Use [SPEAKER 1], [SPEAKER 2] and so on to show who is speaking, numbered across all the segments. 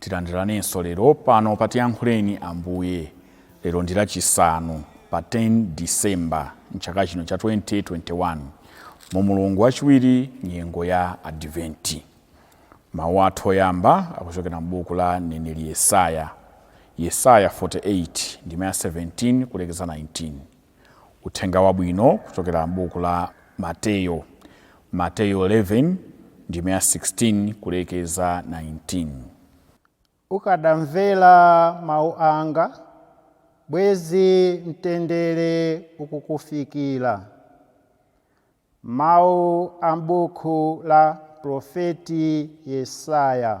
[SPEAKER 1] Tilandiranenso lero pano pa Tiyankhuleni Ambuye. Lero ndi Lachisanu pa 10 December m'chaka chino cha 2021 mu mulungu wachiwiri nyengo ya Adiventi. Mawu athu oyamba akuchokera m'buku la mneneri Yesaya, Yesaya 48 ndime ya 17 kulekeza 19. Uthenga wabwino kuchokera m'buku la Mateyo, Mateyo 11 ndime ya 16 kulekeza 19. Ukadamvera
[SPEAKER 2] mawu anga, bwezi mtendere ukukufikira. Mawu a m'buku la Mprofeti Yesaya,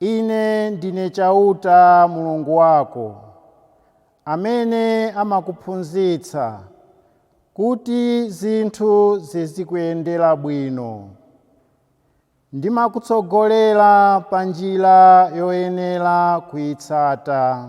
[SPEAKER 2] Ine ndine Chauta, Mulungu wako, amene amakuphunzitsa kuti zinthu zizikuyendera bwino. Ndimakutsogolera pa njira yoyenera kuitsata.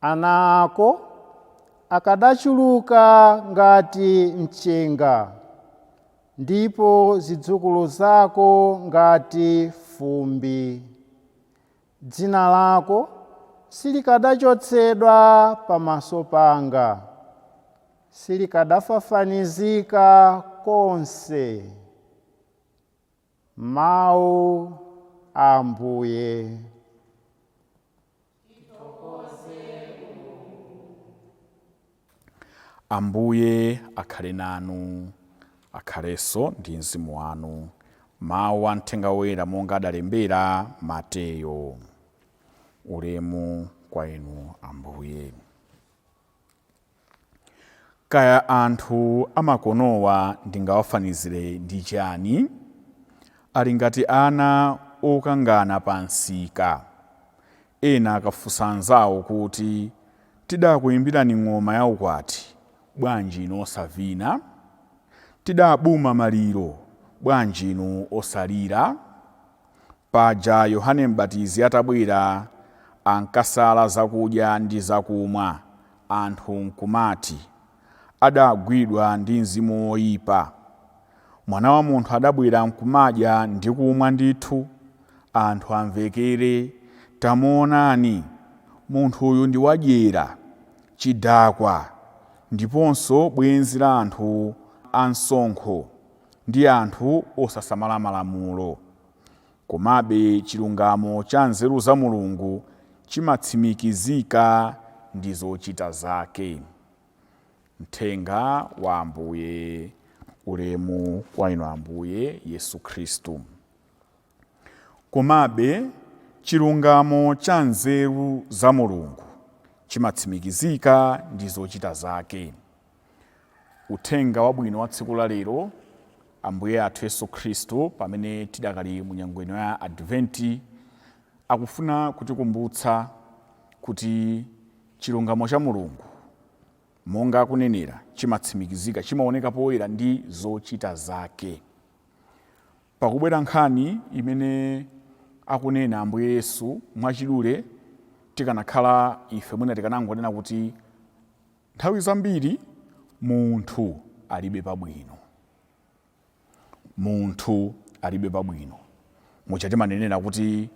[SPEAKER 2] Ana ako akadachuluka ngati mchenga, ndipo zidzukulu zako ngati fumbi. Dzina lako silikadachotsedwa pamaso panga, silikadafafanizika konse. Mawu a Ambuye.
[SPEAKER 1] Ambuye akhale nanu, akhalenso ndi mzimu wanu. Mawu a Mthenga Woyera monga adalembera Mateyo. Ulemu kwa Inu Ambuye. Kaya anthu amakonowa ndingawafanizire ndi chani? Ali ngati ana okangana pa msika. Ena akafunsa anzawo kuti, Tidakuimbirani ng'oma ya ukwati, bwanji inu osavina? Tidabuma maliro, bwanji inu osalira? Paja Yohane M'batizi atabwera, ankasala zakudya ndi zakumwa, anthu nkumati, Adagwidwa ndi mzimu woipa. Mwana wa Munthu adabwera nkumadya ndi kumwa ndithu, anthu amvekere, Tamuonani! Munthuyu ndi wadyera, chidakwa, ndiponso bwenzi la anthu amsonkho ndi anthu osasamala Malamulo. Komabe, chilungamo cha nzeru za Mulungu chimatsimikizika ndi zochita zake. Mthenga wa Ambuye Ulemu kwa Inu Ambuye Yesu Khristu. Komabe, chilungamo cha nzeru za Mulungu chimatsimikizika ndi zochita zake. Uthenga Wabwino wa tsiku la lero, Ambuye athu Yesu Khristu, pamene tidakali mu nyengo ino ya Adventi, akufuna kutikumbutsa kuti chilungamo cha Mulungu, monga akunenera, chimatsimikizika, chimaoneka poyera ndi zochita zake. Pakubwera nkhani imene akunena Ambuye Yesu, mwachidule tikanakhala ife mwina tikanangonena kuti Nthawi zambiri munthu alibe pabwino. Munthu alibe pabwino. Muja timanenera kuti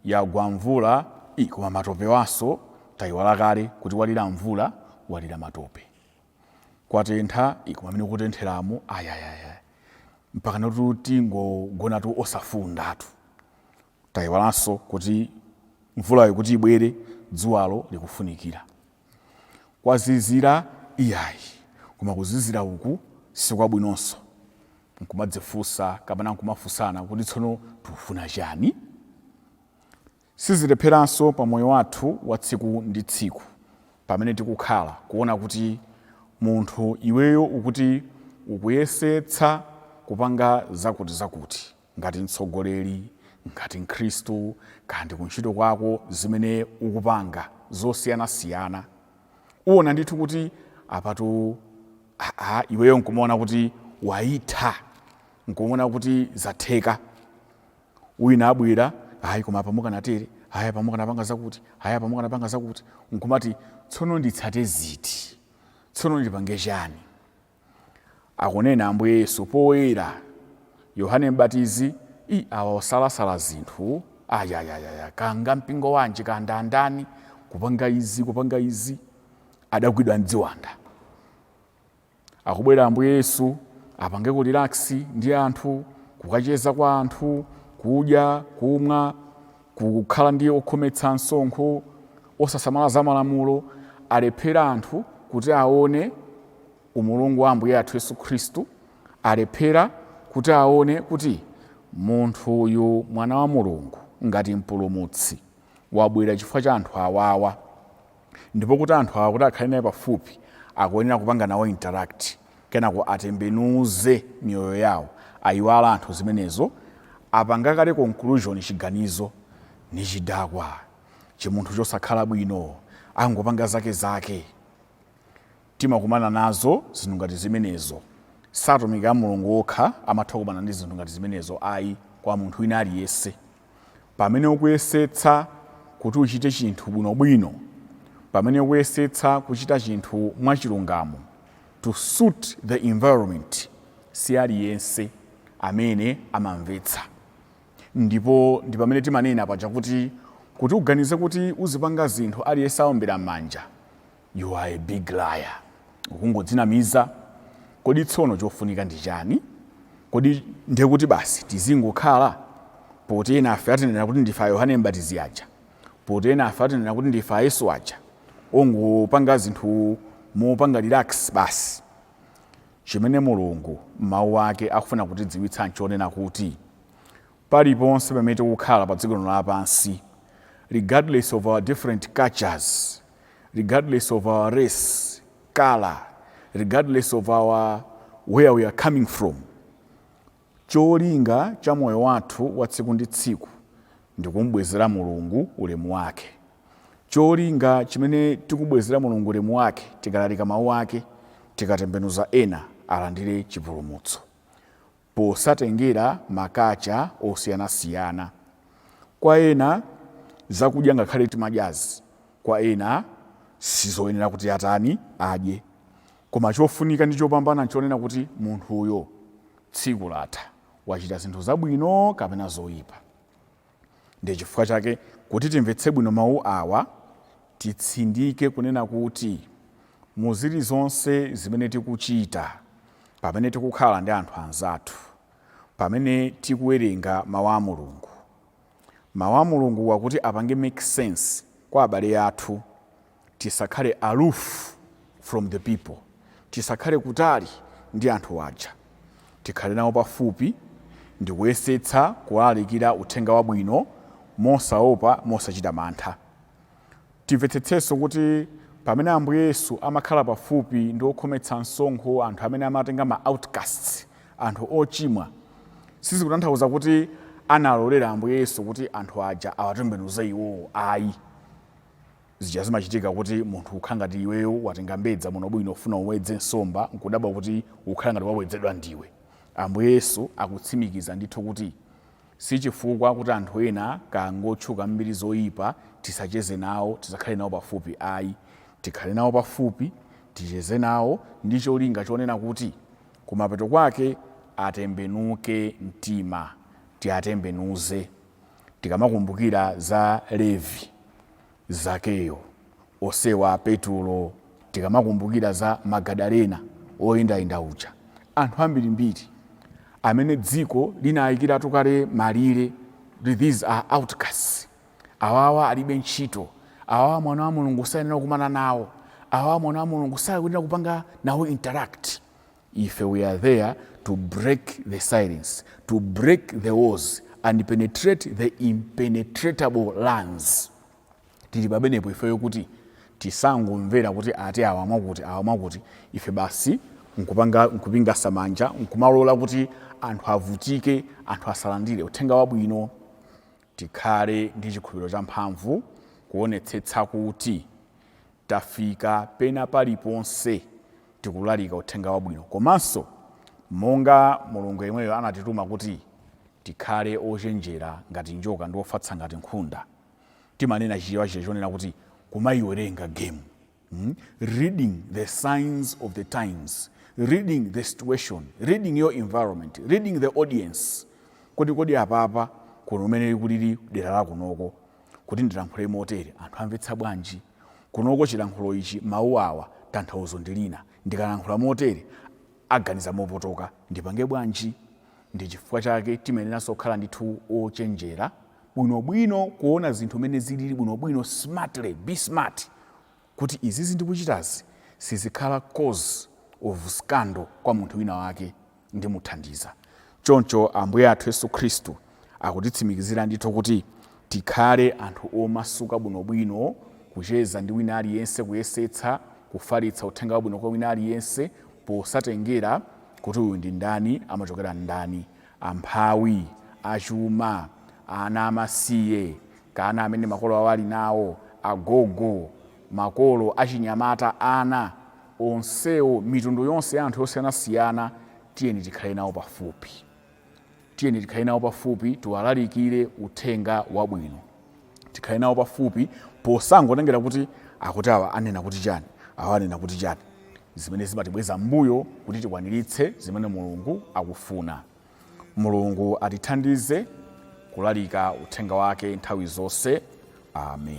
[SPEAKER 1] yagwa mvula, ii koma matopewanso, tayiwala kale kuti walira mvula, walira matope. Kwatentha, ii koma mmene kukutentheramu, ayayaya. Mpakanatu tingogonatu osafundatu. Tayiwalanso kuti mvulayo kuti ibwere dzuwalo likufunikira. Kwazizira iyayi koma kuzizira uku sikwabwinonso. Nkumadzifunsa kapena nkumafunsana kuti tsono tikufuna chani? Sizilepheranso pa moyo wathu wa tsiku ndi tsiku pamene tikukhala kuona kuti munthu iweyo ukuti ukuyesetsa kupanga zakuti zakuti. ngati mtsogoleri, ngati mkhristu, kaya ndi kuntchito kwako zimene ukupanga zosiyanasiyana, uwona ndithu kuti apatu aa iweyo nkumaona kuti waitha, nkumaona kuti zatheka. Wina abwera, ayi koma apa mukanatere, ayi apa mukanapanga zakuti, ayi apa mukanapanga zakuti, nkumati tsono nditsate ziti? Tsono ndipange chani? akunena Ambuye Yesu poyera. Yohane Mbatizi, i awa akusalasala zinthu ayayayaya kaya mpingo wanji kaya ndi ndani kupanga izi kupanga izi adagwidwa ndi ziwanda akubwera Ambuye Yesu apange ku relax ndi anthu kukacheza kwa anthu kudya kumwa kukhala ndi okhometsa msonkho osasamala za malamulo alephera anthu kuti aone umulungu wa ambuye athu yesu khristu alephera kuti aone kuti munthu uyu mwana wa mulungu ngati mpulumutsi wabwera chifukwa cha anthu awawa Ndipo kuti anthu awa kuti akhale naye pafupi akuyenera kupanga nawo interact kenako atembenuze miyoyo yawo ayiwala anthu zimenezo apanga kale conclusion chiganizo ndi chidakwa chimunthu chosakhala bwino angopanga zake zake timakumana nazo zinthu ngati zimenezo si atumiki a Mulungu okha amatha kukumana ndi zinthu ngati zimenezo ayi kwa munthu wina aliyense. pamene ukuyesetsa kuti uchite chinthu bwinobwino, pamene ukuyesetsa kuchita chinthu mwachilungamo, to suit the environment, si aliyense amene amamvetsa. Ndipo ndi pamene timanena paja kuti, kuti uganize kuti uzipanga zinthu aliyense aombera m'manja, You are a big liar. Ukungodzinamiza. Kodi tsono chofunika ndi chani? Kodi ndiye kuti basi tizingokhala? Poti enafe atinena kuti ndife a Yohane M'batizi aja? Poti enafe atinena kuti ndife a Yesu aja? Ongopangira zinthu mopanga relax basi. Chimene Mulungu m'Mawu ake akufuna kutidziwitsa n'chonena kuti, paliponse pamene tikukhala pa dziko lino lapansi regardless of our different cultures, regardless of our race, colour, regardless of our where we are coming from cholinga cha moyo wathu wa tsiku ndi tsiku ndikumbwezera mulungu ulemu wake cholinga chimene tikubwezera mulungu ulemu wake tikalalika mawu ake tikatembenuza ena alandire chipulumutso posatengera ma kacha osiyanasiyana kwa ena zakudya ngakhale timadyazi kwa ena sizoyenera kuti atani adye koma chofunika ndi chopambana nchonena kuti munthuyo tsiku latha wachita zinthu zabwino kapena zoyipa. Ndi chifukwa chake, kuti timvetse bwino mawu awa, titsindike kunena kuti mu zilizonse zimene tikuchita, pamene tikukhala ndi anthu anzathu, pamene tikuwerenga mawu a Mulungu, mawu a Mulunguwa kuti apange make sense kwa abale athu, Tisakhale aloof from the people, tisakhale kutali ndi anthu aja, tikhale nawo pafupi ndikuyesetsa kuwalalikira uthenga wabwino mosaopa, mosachita mantha. Timvetsetsenso kuti pamene Ambuye Yesu amakhala pafupi ndi okhometsa msonkho, anthu amene amatenga ma outcasts, anthu ochimwa, sizikutanthauza kuti analolera Ambuye Yesu kuti anthu aja awatembenuze iwowo ayi. Zija zimachitika kuti munthu ukhala ngati iweyo watenga mbedza bwino bwino ufuna uwedze nsomba nkudabwa kuti ukhala ngati wawedzedwa ndiwe. Ambuye Yesu akutsimikiza ndithu kuti sichifukwa kuti anthu ena kaya ngotchuka mmbiri zoyipa tisacheze nawo, tisakhale nawo pafupi ayi. Tikhale nawo pafupi, ticheze nawo ndi cholinga chonena kuti kumapeto kwake atembenuke mtima, tiatembenuze. Tikamakumbukira za Levi. Zakeyo, Osewa, Petulo, tikamakumbukira za Magadalena woyendayenda uja, anthu ambirimbiri amene dziko linaikiratu kale malire kuti these are outcasts, awawa alibe ntchito, awawa Mwana wa Mulungu sayenera kukumana nawo, awawa Mwana wa Mulungu sayenera kupanga nawo interact. Ife we are there to break the silence, to break the walls and penetrate the impenetratable lands. Tili pamenepo ifeyo kuti tisangomvera kuti ati awa mwakuti awa mwakuti ife basi nkupingasa manja nkumalola kuti anthu avutike anthu asalandire uthenga wabwino Tikhale ndi chikhulupiriro champhamvu kuonetsetsa kuti tafika pena paliponse tikulalika Uthenga Wabwino komanso monga Mulungu yemweyo anatituma kuti tikhale ochenjera ngati njoka ndi ofatsa ngati nkhunda. Timanena Chichewa chija chonena kuti, Kumaiwerenga game. Reading the signs of the times, reading the situation, reading your environment, reading the audience. Kodi kodi apapa kuno umene kulili dera la kunoko kuti ndilankhule motere anthu amvetsa bwanji kunoko chilankhulo ichi mawu awa tanthauzo ndilina ndikalankhula motere aganiza mopotoka ndipange bwanji ndi chifukwa chake timayeneranso kukhala ndithu ochenjera bwinobwino, kuona zinthu mmene zilili bwinobwino, smartly, be smart, kuti izizi ndikuchitazi sizikhala cause of scandal kwa munthu wina wake ndimuthandiza. Choncho Ambuye athu Yesu Khristu akutitsimikizira ndithu kuti tikhale anthu omasuka bwinobwino kucheza ndi wina aliyense, kuyesetsa kufalitsa uthenga wabwino kwa wina aliyense posatengera kuti uyu ndi ndani, amachokera ndani, amphawi, achuma, ana amasiye kaya ana amene makolo awo ali nawo, agogo, makolo, achinyamata, ana, onsewo, mitundu yonse ya anthu yosiyanasiyana, tiyeni tikhale nawo pafupi. Tiyeni tikhale nawo pafupi, tiwalalikire uthenga wabwino. tikhale nawo pafupi posangotengera kuti akuti awa anena kuti chani awa anena kuti chani zimene zimatibweza m'mbuyo kuti tikwaniritse zimene mulungu akufuna mulungu atithandize kulalika uthenga wake nthawi zonse amen.